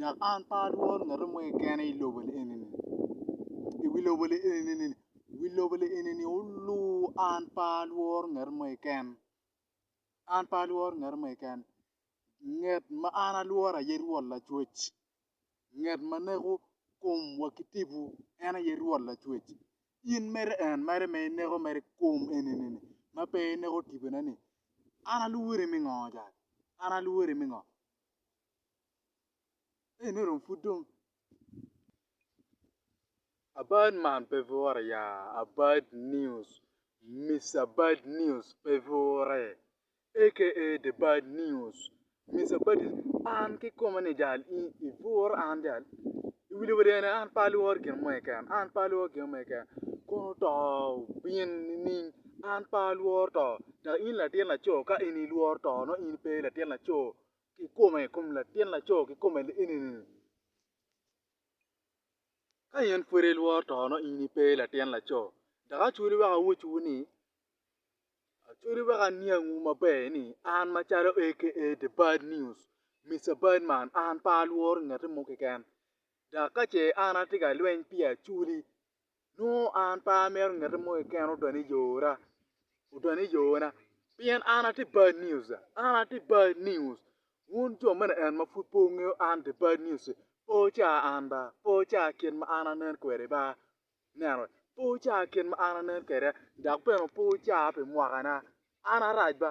dok an pe alworo ngat mo keken i lobo ni eni ni i wi lobo ni eni ni wi lobo ni eni ni olur an pe alworo ngat mo keken an pe alworo ngat mo keken ngat ma an alworo aye Rwot Lacwec ngat ma neko komwa ki tipo en aye Rwot Lacwec in mere en mere ma ineko mere kom eni ni ma pe ineko tipone ni an alwori me ngo cani an alwori me ngo Ene dong pud dong abad man pe bure ya abad news Mister bad news pe bure aka the bad news Mister bad news an kikome ni jal i bur an jal iwinjo wa dong an pe alworo gin mo keken an pe alworo gin mo keken kun oto obin nining an pe alworo to dok in latin laco ka in ilworo to nongo in pe latin laco kikome i kom latin laco kikome liini ni ka in pud ilworo to nongo in ipe latin laco dok acwali wek awacciwu ni acwali wek aniangwu maber ni an macalo aka the bad news Mister bad man an pe alworo ngati mo keken dok kace an atye ka lweny pi acwali nongo an pe amito ngete mo keken odone i ora odone i ona pien an atye bad news an atye bad news wun jo me liel ma pud pe wungeyo an the bad news pe wuca an ba pe wuca kit ma an anen kwede ba ineno pe wuca kit ma an anen kwede dok bene pe wuca pi mwakana an arac ba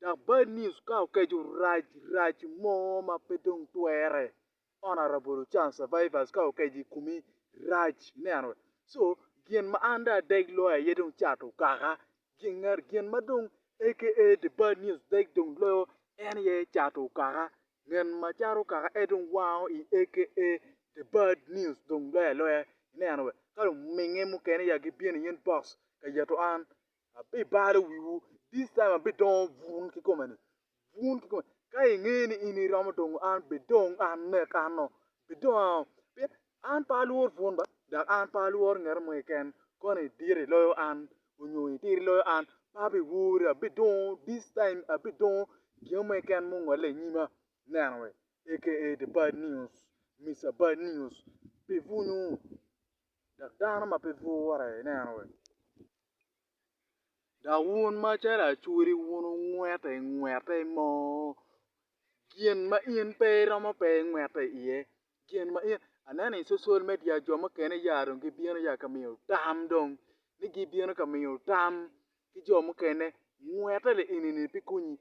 Dok bad news ka okeco rac rac mo ma pe dong twere honourable ochan survivors ka okeco i kumi rac ineno so gin ma an dong adeg loyo aye dong cat okaka gin ma dong aka the bad news deg dong loyo en aye cat okaka gin ma cat okaka en aye dong wango i aka the bad news dong loyo aloya ineno ka luminge mukene ya gibino i inbox ka yeto an Abibalo wiwu, this time abidongo bun kikome-ni, bun kikome. Ka ingeyo ni in iromo dongo an, bidong an nek ano, bidong ano. Pien an pe alwor bun ba, dok an pe alwor ngeto mo keken, kono idito iloyo an, onyo itir iloyo an, pe abiwori, abidongo, this time abidongo gin mo keken ma ongolle i nyima, ineno wee, aka the bad news, Mister Bad News, pi bunyu. Dok dano ma pe bwurre, ineno we? Dok wun macalo acwodi wun wungwete i ngwete i moo, gin ma in pe iromo pe ingwete iye, gin ma in, aneno i social media jo mukene ya dong gibino ya ka miyo tam dong, ni gibino ka miyo tam ki jo mukene, ngwete li enini pe konyi,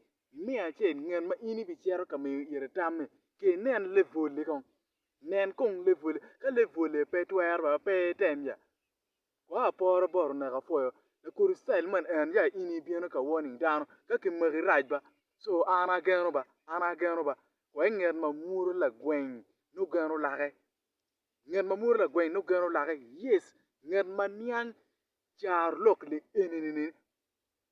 me acel ngat ma in ibicito ka miyo ite tam-mi, ci inen lebol-li kong, Nen kong lebwole. Ka lebwole pe twero ba pe item ya kwo aporo bot oneko apwoyo lakodo cell man en ya in ibino ka warning dano ka kimaki rac ba so an ageno ba an ageno ba kwo inget ma mwodo lagweng nongo geno lake nget ma mwodo lagweng nongo geno lake yes nget ma niang caro lok eni ni